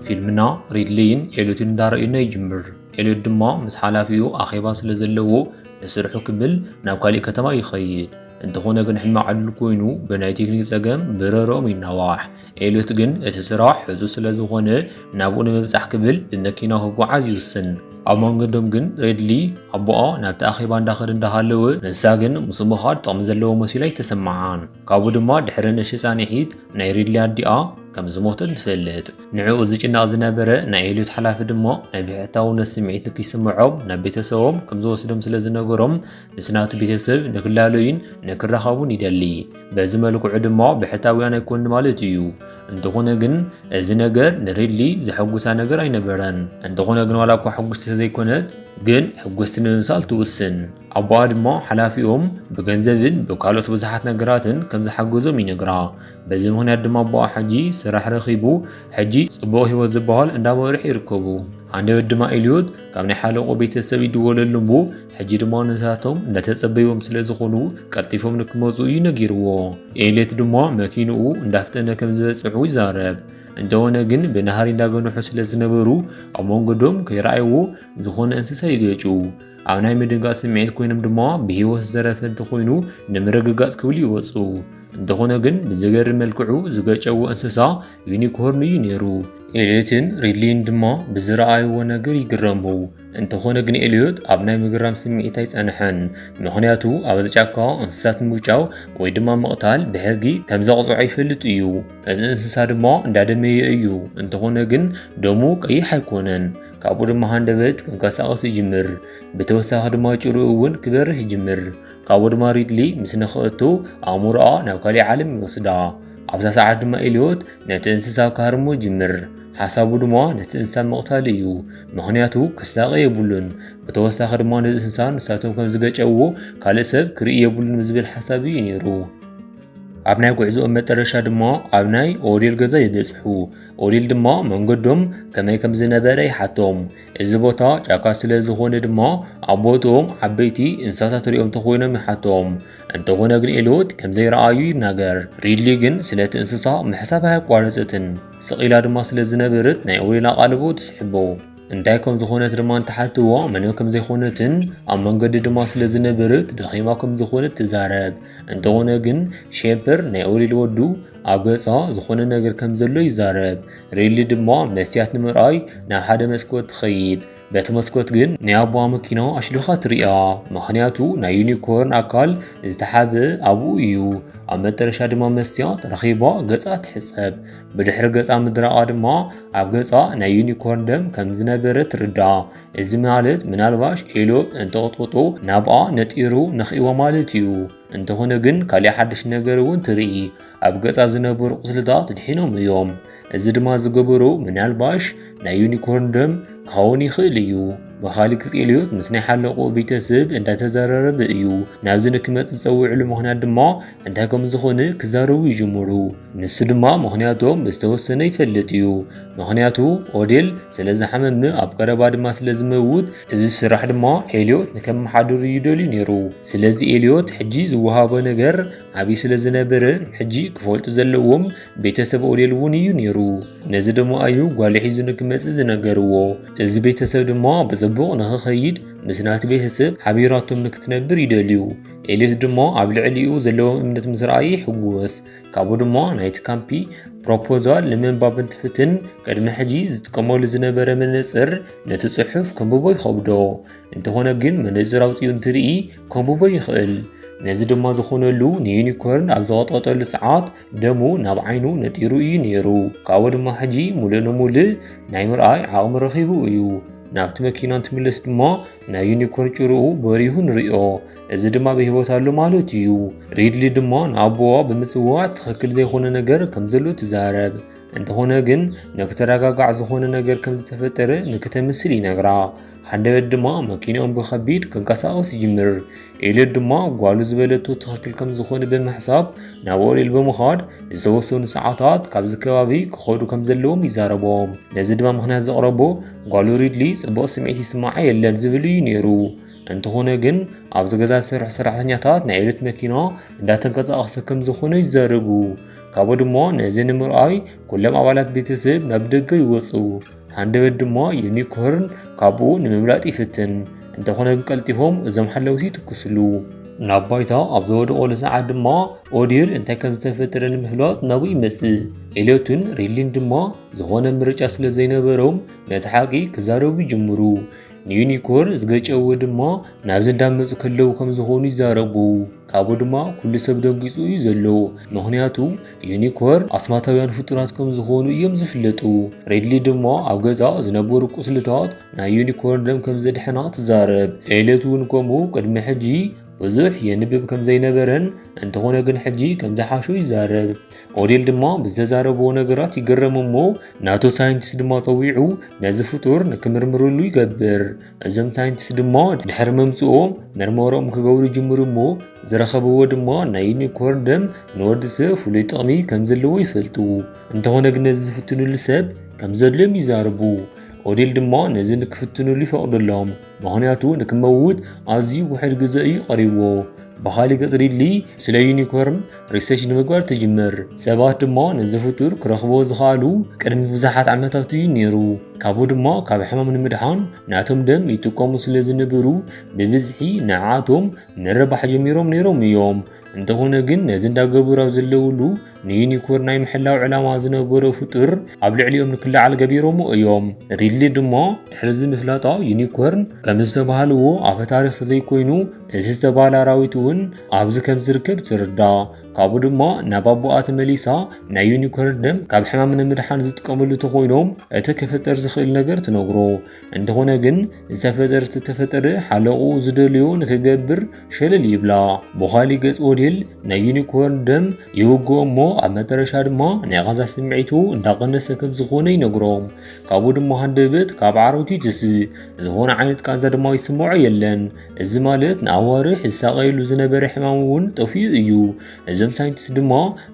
ፊልምና ሪድሊይን ኤልዮትን እንዳረእዩና ይጅምር። ኤልዮት ድማ ምስ ሓላፊኡ ኣኼባ ስለ ዘለዎ ንስርሑ ክብል ናብ ካሊእ ከተማ ይኸይድ። እንተኾነ ግን ሕማቕ ዕድል ኮይኑ ብናይ ቴክኒክ ጸገም ብረሮም ይናዋሕ። ኤልዮት ግን እቲ ስራሕ ሕዙ ስለ ዝኾነ ናብኡ ንምብጻሕ ክብል ብመኪና ክጓዓዝ ይውስን። ኣብ መንገዶም ግን ሬድሊ ኣቦኣ ናብቲ ኣኼባ እንዳኸደ እንዳሃለወ ንሳ ግን ምስ ምኻድ ጥቕሚ ዘለዎ መሲሉ ኣይተሰምዓን። ካብኡ ድማ ድሕሪ ንእሽቲ ፃንሒት ናይ ሪድሊ ኣዲኣ ከም ዝሞተት ትፈልጥ ንዕኡ ዝጭነቕ ዝነበረ ናይ ኤልዮት ሓላፊ ድማ ናይ ብሕታውነት ስምዒት ንክይስምዖም ናብ ቤተሰቦም ከም ዝወስዶም ስለ ዝነገሮም ምስ ናቱ ቤተሰብ ንክላለዩን ንክራኸቡን ይደሊ በዚ መልክዑ ድማ ብሕታውያን ኣይኮኑ ማለት እዩ እንተኾነ ግን እዚ ነገር ንሪድሊ ዘሐጉሳ ነገር ኣይነበረን። እንተኾነ ግን ዋላ እኳ ሕጉስቲ ተዘይኮነት ግን ሕጉስቲ ንምምሳል ትውስን። ኣቦኣ ድማ ሓላፊኦም ብገንዘብን ብካልኦት ብዙሓት ነገራትን ከም ዝሓገዞም ይነግራ። በዚ ምክንያት ድማ ኣቦኣ ሕጂ ስራሕ ረኺቡ ሕጂ ጽቡቕ ህይወት ዝበሃል እንዳመርሑ ይርከቡ። ሃንደበት ድማ ኤልዮት ካብ ናይ ሓለቆ ቤተሰብ ይድወለሉ እሞ ሕጂ ድማ ንሳቶም እንዳተጸበይዎም ስለ ዝኾኑ ቀልጢፎም ንክመጹ እዩ ነጊርዎ። ኤሌት ድማ መኪንኡ እንዳፍጠነ ከም ዝበጽሑ ይዛረብ። እንተኾነ ግን ብናህሪ እንዳገንሑ ስለ ዝነበሩ ኣብ መንገዶም ከይረኣይዎ ዝኾነ እንስሳ ይገጩ። ኣብ ናይ ምድንጋጽ ስምዒት ኮይኖም ድማ ብህይወት ዝተረፈ እንተኾይኑ ንምርግጋጽ ክብሉ ይወጹ። እንተኾነ ግን ብዘገርም መልክዑ ዝገጨዎ እንስሳ ዩኒኮርን እዩ ነይሩ። ኤልዮትን ሪድሊን ድማ ብዝረኣይዎ ነገር ይግረሙ። እንተኾነ ግን ኤልዮት ኣብ ናይ ምግራም ስምዒት ኣይጸንሐን። ምኽንያቱ ኣብ ጫካ እንስሳት ምውጫው ወይ ድማ ምቕታል ብሕጊ ከም ዘቕጽዖ ይፈልጥ እዩ። እዚ እንስሳ ድማ እንዳደመየ እዩ። እንተኾነ ግን ደሙ ቀይሕ ኣይኮነን። ካብኡ ድማ ሃንደበት ክንቀሳቐስ ይጅምር። ብተወሳኺ ድማ ጭሩ እውን ክበርህ ይጅምር። ካብኡ ድማ ሪድሊ ምስ ንኽእቱ ኣእምሮኣ ናብ ካሊእ ዓለም ይወስዳ። ኣብዛ ሰዓት ድማ ኤልዮት ነቲ እንስሳ ክሃርሞ ይጅምር። ሓሳቡ ድማ ነቲ እንስሳ ምቕታል እዩ። ምኽንያቱ ክሳቐ የብሉን። ብተወሳኺ ድማ ነዚ እንስሳ ንሳቶም ከም ዝገጨዎ ካልእ ሰብ ክርኢ የብሉን ብዝብል ሓሳብ እዩ ነይሩ። ኣብ ናይ ጉዕዞኦም መጠረሻ ድማ ኣብ ናይ ኦዴል ገዛ ይበጽሑ። ኦዴል ድማ መንገዶም ከመይ ከም ዝነበረ ይሓቶም። እዚ ቦታ ጫካ ስለ ዝኾነ ድማ ኣቦትኦም ዓበይቲ እንስሳታት ሪኦም ተኾይኖም ይሓቶም። እንተኾነ ግን ኤልዮት ከምዘይረኣዩ ይናገር። ሪድሊ ግን ስለቲ እንስሳ ምሕሳብ ኣያቋረጸትን። ስቕ ኢላ ድማ ስለ ዝነበረት ናይ ኦሊን ኣቓልቦ ትስሕቦ። እንታይ ከም ዝኾነት ድማ እንተሓትትዋ ምንም ከም ዘይኮነትን ኣብ መንገዲ ድማ ስለ ዝነበረት ደኺማ ከም ዝኾነት ትዛረብ። እንተኾነ ግን ሼፐር ናይ ኦሊል ወዱ ኣብ ገጻ ዝኾነ ነገር ከም ዘሎ ይዛረብ። ሪሊ ድማ መስትያት ንምርኣይ ናብ ሓደ መስኮት ትኸይድ በቲ መስኮት ግን ናይ ኣቦዋ መኪና ኣሽሊኻ ትርያ ምክንያቱ ናይ ዩኒኮርን ኣካል ዝተሓበ ኣብኡ እዩ ኣብ መጠረሻ ድማ መስትያት ረኺባ ገፃ ትሕፀብ ብድሕሪ ገፃ ምድራቓ ድማ ኣብ ገፃ ናይ ዩኒኮርን ደም ከም ዝነበረ ትርዳ እዚ ማለት ምናልባሽ ኤሎ እንተቕጥቕጡ ናብኣ ነጢሩ ነኽእዎ ማለት እዩ እንተኾነ ግን ካልእ ሓድሽ ነገር እውን ትርኢ ኣብ ገጻ ዝነበሩ ቁስልታት ድሒኖም እዮም። እዚ ድማ ዝገበሩ ምናልባሽ ናይ ዩኒኮርን ደም ክኸውን ይኽእል እዩ። በኻሊ ክጽልዮት ምስ ናይ ሓለቆ ቤተሰብ እንዳተዘራረበ እዩ። ናብዚ ንክመጽእ ዝጸውዕሉ ምኽንያት ድማ እንታይ ከም ዝኾነ ክዛረቡ ይጅምሩ። ንሱ ድማ ምኽንያቶም ብዝተወሰነ ይፈልጥ እዩ። ምኽንያቱ ኦዴል ስለ ዝሓመመ ኣብ ቀረባ ድማ ስለ ዝመውት እዚ ስራሕ ድማ ኤልዮት ንከመሓድሩ ይደልዩ ነይሩ። ስለዚ ኤልዮት ሕጂ ዝወሃቦ ነገር ኣብይ ስለ ዝነብር ሕጂ ክፈልጡ ዘለዎም ቤተሰብ ኦዴል እውን እዩ ነይሩ ነዚ ደሞ ኣዩ ጓል ሒዙ ንክመፅእ ዝነገርዎ እዚ ቤተሰብ ድማ ብፅቡቕ ንክኸይድ ምስ ናቲ ቤተሰብ ሓቢራቶም ንክትነብር ይደልዩ ኤሌት ድማ ኣብ ልዕሊኡ ዘለዎም እምነት ምስ ረኣየ ይሕጎስ ካብኡ ድማ ናይቲ ካምፒ ፕሮፖዛል ንምንባብ እንትፍትን ቅድሚ ሕጂ ዝጥቀመሉ ዝነበረ መነፅር ነቲ ፅሑፍ ከንብቦ ይኸብዶ እንተኾነ ግን መነጽር ኣውፂኡ እንትርኢ ከንብቦ ይኽእል ነዚ ድማ ዝኾነሉ ንዩኒኮርን ኣብ ዝቐጥቀጠሉ ሰዓት ደሙ ናብ ዓይኑ ነጢሩ እዩ ነይሩ ካብኡ ድማ ሕጂ ሙሉእ ንሙሉእ ናይ ምርኣይ ዓቕሚ ረኺቡ እዩ ናብቲ መኪና እንትምለስ ድማ ናይ ዩኒኮርን ጭርኡ በሪሁ ንሪኦ እዚ ድማ ብሂወት ኣሎ ማለት እዩ ሪድሊ ድማ ንኣቦዋ ብምፅዋዕ ትኽክል ዘይኮነ ነገር ከም ዘሎ ትዛረብ እንተኾነ ግን ንክተረጋጋዕ ዝኾነ ነገር ከም ዝተፈጠረ ንክተምስል ይነግራ ሃንደበት ድማ መኪንኦም ብኸቢድ ክንቀሳቐስ ይጅምር። ኤልዮት ድማ ጓሉ ዝበለቶ ትኽክል ከም ዝኾነ ብምሕሳብ ናብ ኦሪል ብምዃድ ዝተወሰኑ ሰዓታት ካብዚ ከባቢ ክኸዱ ከም ዘለዎም ይዛረቦም። ነዚ ድማ ምክንያት ዘቕረቦ ጓሉ ሪድሊ ጽቡቕ ስምዒት ይስምዓ የለን ዝብል እዩ ነይሩ። እንተኾነ ግን ኣብዚ ገዛ ዝሰርሑ ሰራሕተኛታት ናይ ኤልዮት መኪና እንዳተንቀሳቐሰ ከም ዝኾነ ይዛረቡ። ካብኡ ድማ ነዚ ንምርኣይ ኩሎም ኣባላት ቤተሰብ ናብ ደገ ይወጹ። ሃንደበት ድማ ዩኒኮርን ካብኡ ንምምላጥ ይፍትን፣ እንተኾነ ግን ቀልጢፎም እዞም ሓለውቲ ይትኩስሉ። ናብ ባይታ ኣብ ዝወደቐሉ ሰዓት ድማ ኦዲል እንታይ ከም ዝተፈጠረ ንምፍላጥ ናብኡ ይመጽእ። ኤልዮትን ሪሊን ድማ ዝኾነ ምርጫ ስለ ዘይነበሮም ነቲ ሓቂ ክዛረቡ ይጅምሩ። ንዩኒኮር ዝገጨዎ ድማ ናብዚ እንዳመጹ ከለዉ ከም ዝኾኑ ይዛረቡ። ካብኡ ድማ ኩሉ ሰብ ደንጊጹ እዩ ዘሎ ምኽንያቱ ዩኒኮርን ኣስማታውያን ፍጡራት ከም ዝኾኑ እዮም ዝፍለጡ። ሬድሊ ድማ ኣብ ገዛ ዝነበሩ ቁስልታት ናይ ዩኒኮርን ደም ከም ዘድሕና ትዛረብ። ኤልዮት እውን ከምኡ ቅድሚ ሕጂ ብዙሕ የንብብ ከም ዘይነበረን እንተኾነ ግን ሕጂ ከም ዝሓሾ ይዛረብ። ኦዴል ድማ ብዝተዛረብዎ ነገራት ይግረም እሞ ናቱ ሳይንቲስት ድማ ጸዊዑ ነዚ ፍጡር ንክምርምርሉ ይገብር። እዞም ሳይንቲስት ድሞ ድሕሪ ምምፅኡም መርመሮም ክገብሩ ጅምሩ እሞ ዝረኸብዎ ድሞ ናይ ዩኒኮርን ደም ንወዲ ሰብ ፍሉይ ጥቕሚ ከም ዘለዎ ይፈልጡ እንተኾነ ግን ነዚ ዝፍትንሉ ሰብ ከም ዘድልዮም ይዛርቡ ኦዴል ድማ ነዚ ንክፍትንሉ ይፈቕደሎም ምክንያቱ ንክመውት ኣዝዩ ውሕድ ግዘ እዩ ቀሪብዎ ብኻሊእ ገፅ ሪድሊ ስለ ዩኒኮርን ሪሰርች ንምግባር ትጅምር ሰባት ድማ ነዚ ፍጡር ክረኽብዎ ዝኸኣሉ ቅድሚ ብዙሓት ዓመታት እዩ ነይሩ ካብኡ ድማ ካብ ሕማም ንምድሓን ናቶም ደም ይጥቀሙ ስለ ዝነበሩ ብብዝሒ ንዓቶም ምርባሕ ጀሚሮም ነይሮም እዮም እንተኾነ ግን ነዚ እንዳገበሩ ኣብ ዘለውሉ ንዩኒኮርን ናይ ምሕላው ዕላማ ዝነበሮ ፍጡር ኣብ ልዕሊኦም ንክለዓል ገቢሮሞ እዮም ሪድሊ ድማ ድሕርዚ ምፍላጣ ዩኒኮርን ከም ዝተባሃልዎ ኣፈ ታሪክ ተዘይኮይኑ እዚ ዝተባሃለ ኣራዊት እውን ኣብዚ ከም ዝርከብ ትርዳእ። ካብኡ ድማ ናብ ኣቦኣ ተመሊሳ ናይ ዩኒኮርን ደም ካብ ሕማም ንምድሓን ዝጥቀምሉ ተኮይኖም እቲ ክፍጠር ዝኽእል ነገር ትነግሮ። እንተኾነ ግን ዝተፈጠር ዝተፈጠረ ሓለቑ ዝደልዮ ንክገብር ሸለል ይብላ። ብኻሊ ገጽ ወዴል ናይ ዩኒኮርን ደም ይውግኦ እሞ ኣብ መጠረሻ ድማ ናይ ቃዛ ስምዒቱ እንዳቀነሰ ከም ዝኾነ ይነግሮም። ካብኡ ድማ ሃንደበት ካብ ዓረቱ ይትስእ ዝኾነ ዓይነት ቃንዛ ድማ ይስምዖ የለን። እዚ ማለት ንኣዋርሕ ዝሳቐየሉ ዝነበረ ሕማም እውን ጠፊኡ እዩ። እዞም ሳይንቲስት ድማ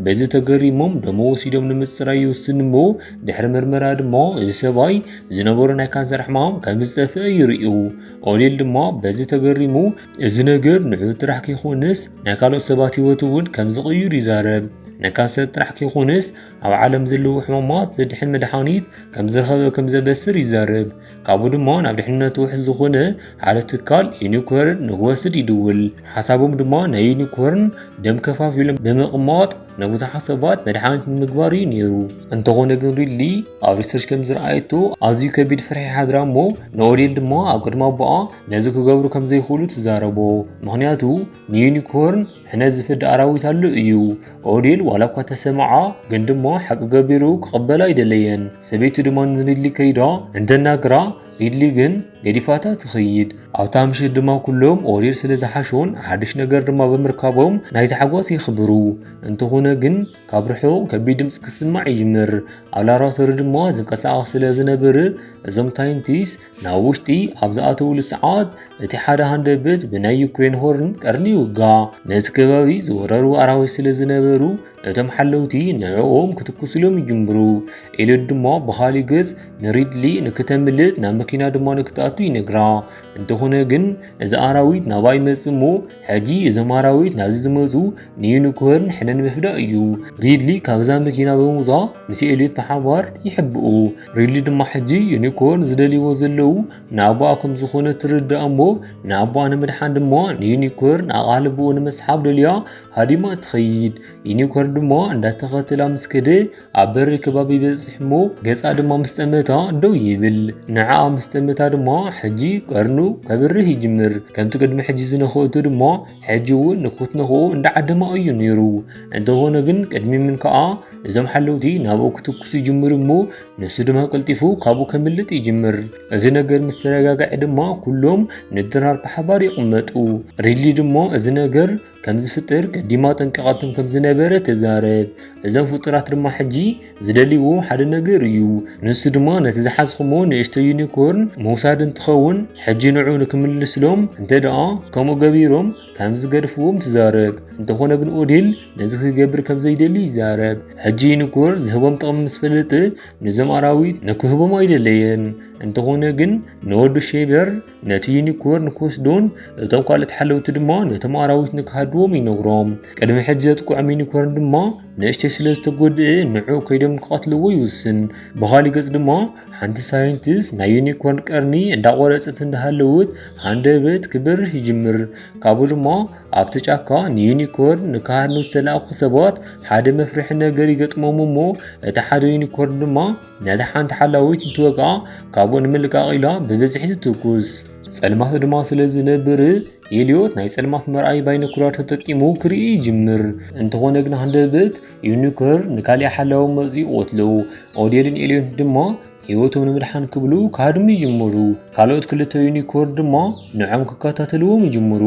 በዚ ተገሪሞም ደሞ ወሲዶም ንምፅራይ ይውስኑ እሞ ድሕሪ ምርመራ ድማ እዚ ሰብኣይ ዝነበሮ ናይ ካንሰር ሕማም ከም ዝጠፍአ ይርእዩ። ኦሊል ድማ በዚ ተገሪሙ እዚ ነገር ንዑ ጥራሕ ከይኮነስ ናይ ካልኦት ሰባት ህይወት እውን ከም ዝቕይሩ ይዛረብ። ናይ ካንሰር ጥራሕ ከይኮነስ ኣብ ዓለም ዘለዉ ሕማማት ዘድሕን መድሓኒት ከም ዝረኸበ ከም ዘበስር ይዛረብ። ካብኡ ድማ ናብ ድሕንነቱ ውሕስ ዝኾነ ሓደ ትካል ዩኒኮርን ንክወስድ ይድውል። ሓሳቦም ድማ ናይ ዩኒኮርን ደም ከፋፊሎም ብምቕማጥ ንብዙሓት ሰባት መድሓኒት ንምግባር እዩ ነይሩ። እንተኾነ ግን ሪድሊ ኣብ ሪሰርች ከም ዝረኣየቶ ኣዝዩ ከቢድ ፍርሒ ሓድራ እሞ ንኦዴል ድማ ኣብ ቅድሚ ኣቦኣ ነዚ ክገብሩ ከም ዘይኽእሉ ትዛረቦ። ምክንያቱ ንዩኒኮርን ሕነ ዝፈዲ ኣራዊት ኣሉ እዩ። ኦዴል ዋላ እኳ ተሰምዓ ግን ድማ ሓቂ ገቢሩ ክቕበላ ኣይደለየን። ሰበይቲ ድማ ንሪድሊ ከይዳ እንተናግራ ሪድሊ ግን ገዲፋታ ትኸይድ። ኣብታ ምሽት ድማ ኩሎም ኦሪል ስለ ዝሓሾን ሓድሽ ነገር ድማ ብምርካቦም ናይ ታሕጓስ የኽብሩ። እንተኾነ ግን ካብ ርሑቕ ከቢድ ድምፂ ክስማዕ ይጅምር። ኣብ ላብራቶሪ ድማ ዝንቀሳቐስ ስለ ዝነብር እዞም ታይንቲስ ናብ ውሽጢ ኣብ ዝኣተውሉ ሰዓት እቲ ሓደ ሃንደበት ብናይ ዩክሬን ሆርን ቀርኒ ይውጋእ። ነቲ ከባቢ ዝወረሩ ኣራዊት ስለ ዝነበሩ እቶም ሓለውቲ ንዕኦም ክትኩስሎም ይጅምሩ። ኤልዮት ድማ ብኻሊእ ገጽ ንሪድሊ ንክተምልጥ ናብ መኪና ድማ ንክትኣቱ ይነግራ። እንተኾነ ግን እዚ ኣራዊት ናባ ይመጽ እሞ ሕጂ እዞም ኣራዊት ናብዚ ዝመጹ ንዩኒኮርን ሕነ ንምፍዳእ እዩ። ሪድሊ ካብዛ መኪና ብምውጻእ ምስ ኤልዮት ብሓባር ይሕብኡ። ሪሊ ድማ ሕጂ ዩኒኮርን ዝደልይዎ ዘለዉ ንኣቦኣ ከም ዝኾነ ትርዳእ እሞ ንኣቦኣ ንምድሓን ድማ ንዩኒኮርን ኣቓልቦኡ ንምስሓብ ደልያ ሃዲማ ትኸይድ ዩኒኮርን ድማ እንዳተኸተላ ምስ ከደ ኣብ በሪ ከባቢ በፅሕ እሞ ገፃ ድማ ምስ ጠመታ ደው ይብል ንዓኣ ምስ ጠመታ ድማ ሕጂ ቀርኑ ከብርህ ይጅምር ከምቲ ቅድሚ ሕጂ ዝነኸእቱ ድማ ሕጂ እውን ንኩትንክኡ እንዳዓደማኡ እዩ ነይሩ እንተኾነ ግን ቅድሚ ምን ከዓ እዞም ሓለውቲ ናብኡ ክትኩሱ ይጅምሩ እሞ ንሱ ድማ ቀልጢፉ ካብኡ ከምልጥ ይጅምር እዚ ነገር ምስ ተረጋግዐ ድማ ኩሎም ንድራር ብሓባር ይቕመጡ ሪሊ ድማ እዚ ነገር ከም ዝፍጥር ቀዲማ ጠንቀቐትም ከም ዝነበረ ተዛረብ እዞም ፍጡራት ድማ ሕጂ ዝደልዎ ሓደ ነገር እዩ ንሱ ድማ ነቲ ዝሓዝኹሞ ንእሽቶ ዩኒኮርን ምውሳድ እንትኸውን ሕጂ ንዑ ንክምልስሎም እንተ ደኣ ከምኡ ገቢሮም ከም ዝገድፍዎም ትዛረብ እንተኾነ ግን ኦዴል ነዚ ክገብር ከም ዘይደሊ ይዛረብ ሕጂ ዩኒኮር ዝህቦም ጥቕሚ ምስ ፈለጠ ንዞም ኣራዊት ንክህቦም ኣይደለየን እንተኾነ ግን ንወዱ ሼበር ነቲ ዩኒኮርን ክወስዱን እቶም ካልኦት ሓለውቲ ድማ ነቶም ኣራዊት ንክሃድዎም ይነግሮም ቅድሚ ሕጂ ዘጥቅዖም ዩኒኮርን ድማ ንእሽተይ ስለ ዝተጎድእ ንዑ ከይዶም ክቐትልዎ ይውስን ብኻሊእ ገጽ ድማ ሓንቲ ሳይንቲስት ናይ ዩኒኮርን ቀርኒ እንዳቆረጸት እንዳሃለውት ሃንደበት ክበርህ ይጅምር ካብኡ ድማ ኣብቲ ጫካ ንዩኒኮርን ንክሃድኑ ዝተላእኩ ሰባት ሓደ መፍርሒ ነገር ይገጥሞም እሞ እቲ ሓደ ዩኒኮርን ድማ ነታ ሓንቲ ሓላዊት እንትወግኣ ካብኡ ንምልቃቕ ኢላ ብብዝሒ ትትኩስ ጸልማት ድማ ስለ ዝነብር ኤልዮት ናይ ጸልማት መርኣይ ባይኖኩላር ተጠቂሙ ክርኢ ይጅምር እንተኾነ ግን ሃንደበት ዩኒኮር ንካሊእ ሓላዊ መፅኡ ቆትሎ ኦዴልን ኤልዮት ድማ ህይወቶም ንምድሓን ክብሉ ክሃድሙ ይጅምሩ ካልኦት ክልተ ዩኒኮር ድማ ንዖም ክከታተልዎም ይጅምሩ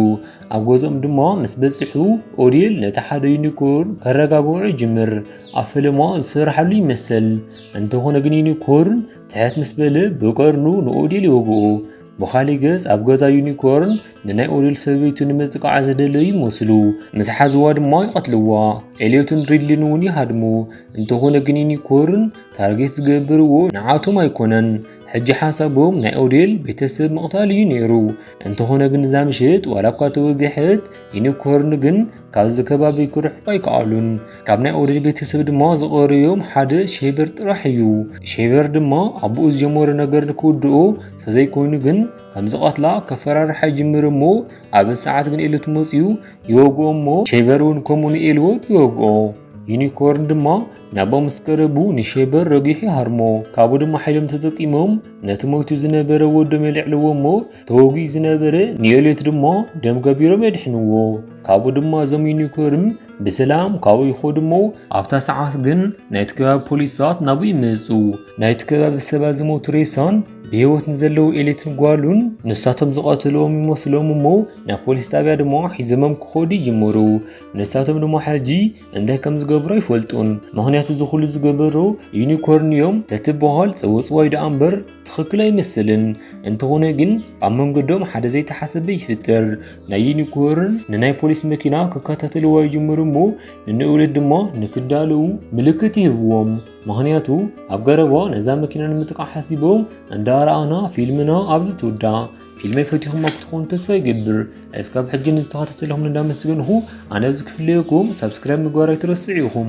ኣብ ገዝኦም ድማ ምስ በፅሑ ኦዴል ነቲ ሓደ ዩኒኮር ከረጋግዑ ይጅምር ኣብ ፈለማ ዝስራሓሉ ይመሰል እንተኾነ ግን ዩኒኮርን ትሕት ምስ በለ ብቀርኑ ንኦዴል ይወግኦ ብኻሊእ ገጽ ኣብ ገዛ ዩኒኮርን ንናይ ኦዴል ሰበይቱ ንምጥቃዓ ዘደለዩ ይመስሉ ምስ ሓዝዋ ድማ ይቐትልዋ ኤልዮትን ሪድሊን እውን ይሃድሙ እንተኾነ ግን ዩኒኮርን ታርጌት ዝገብርዎ ንዓቶም ኣይኮነን ሕጂ ሓሳቦም ናይ ኦዴል ቤተሰብ ምቕታል እዩ ነይሩ እንተኾነ ግን እዛ ምሽት ዋላ እኳ ተወግሐት ዩኒኮርን ግን ካብዚ ከባቢ ክርሕቁ ኣይከኣሉን ካብ ናይ ኦሪት ቤተሰብ ድማ ዝቐርዮም ሓደ ሼበር ጥራሕ እዩ ሼበር ድማ ኣቦኡ ዝጀመሮ ነገር ንክውድኦ ተዘይኮይኑ ግን ከም ዝቐትላ ከፈራርሓ ይጅምር እሞ ኣብ ሰዓት ግን ኤልት መፅዩ ይወግኦ እሞ ሼበር እውን ከምኡ ንኤልዎት ይወግኦ ዩኒኮርን ድማ ናቦ ምስ ቀረቡ ንሼበር ረጒሑ ሃርሞ ካብኡ ድማ ሓይሎም ተጠቂሞም ነቲ ሞይቱ ዝነበረ ወዶም የልዕልዎ እሞ ተወጉዩ ዝነበረ ኒዮሌት ድማ ደም ገቢሮም የድሕንዎ ካብኡ ድማ እዞም ዩኒኮርን ብሰላም ካብኡ ይኸዱ እሞ ኣብታ ሰዓት ግን ናይቲ ከባቢ ፖሊሳት ናብኡ ይመፁ ናይቲ ከባቢ ሰባት ዝሞቱ ሬሳን ብህይወት ንዘለዉ ኤሌትን ጓሉን ንሳቶም ዝቐትልዎም ይመስሎም እሞ ናብ ፖሊስ ጣብያ ድማ ሒዘሞም ክኸዱ ይጅምሩ ንሳቶም ድማ ሕጂ እንታይ ከም ዝገብሩ ኣይፈልጡን ምክንያቱ ዝኹሉ ዝገበሩ ዩኒኮርን እዮም ተትበሃል ፀወፅዋይ ደኣ እምበር ትኽክል ኣይመስልን እንተኾነ ግን ኣብ መንገዶም ሓደ ዘይተሓሰበ ይፍጠር ናይ ዩኒኮርን ንናይ ፖሊስ መኪና ክከታተልዋ ይጅምሩ እሞ ንንእውለት ድማ ንክዳለዉ ምልክት ይህብዎም ምክንያቱ ኣብ ገረባ ነዛ መኪና ንምጥቃዕ ሓሲቦም እንዳረኣና ፊልምና ኣብዚ ትውዳእ ፊልመይ ፈቲኹም ኣብ ትኾኑ ተስፋ ይገብር እስካብ ሕጂ ንዝተኸታተልኹም እንዳመስገንኹ ኣነ ዝክፍለየኩም ሳብስክራይብ ምግባር ኣይትረስዑ ኢኹም